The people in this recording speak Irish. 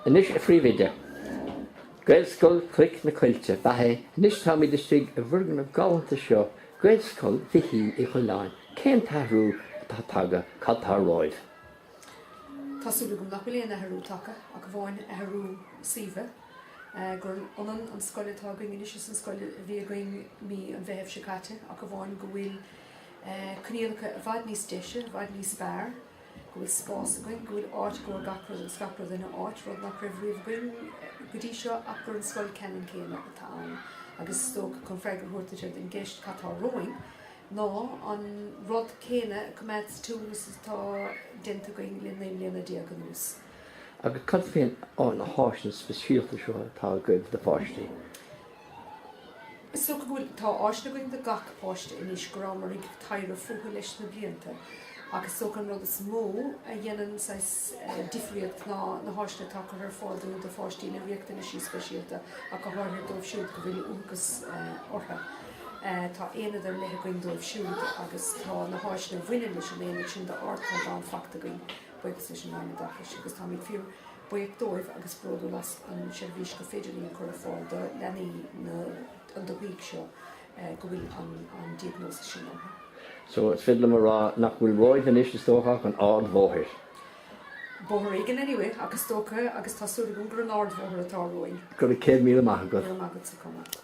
Anois a Phríomhoide. Gaelscoil Cloich na Coillte ab ea é. Anois táimid istigh i bhfoirgneamh galánta seo Ghaelscoil Mhichíl Uí Choileáin. Cén t-athrú atá tagtha? Cad tá romhat? Tá súil agam nach bhfuil aon athrú tagtha ach amháin athrú suímhe, gur ionann an scoil atá againn anois is an scoil a bhí againn mí an Mheithimh seo caite ach amháin go bhfuil coinníollacha i bhfad níos deise, i bhfad níos fearr. go bhfuil spás againn, go bhfuil áit do gach rud agus gach rud ina áit, rud nach raibh riamh againn go dtí seo ach gur an scoil ceannann céanna atá ann agus is dócha chun freagra a thabhairt ar an gceist cad atá romhainn ná an rud céanna a choimeád sa tsiúl agus atá déanta againn le naoi mbliana déag anuas. Agus cad faoi na háiseanna speisialta seo atá agaibh do pháistí? Is dócha go bhfuil, tá áiseanna againn do gach páiste anois go rabhamar ag taibhreamh fúthu leis na blianta agus is dócha an rud is mó a dhéanann saghas difríocht ná na háiseanna atá curtha ar fáil dúinn do pháistí le riachtanais speisialta ach go háirithe dóibh siúd go bhfuil uathachas orthu. Tá aonad ar leith againn dóibh siúd agus tá na háiseanna a bhaineann leis an aonad sin d'ardchaighdeán fachta againn buíochas leis an Roinn Oideachais agus táimid fíor buíoch dóibh agus bródúil as an seirbhís gur féidir linn a chur ar fáil do leanaí na dúthaí seo go bhfuil an an diagnosis sin orthu. So is féidir liom a rá nach bhfuil romhat anois is dócha ach an ardbhóthar. Bóthar éigin anyway ach is dócha agus tá súil agam gurb é an ardbhóthar atá romhainn. Go raibh céad míle maith agat. Go raibh maith agatsa a Tomás.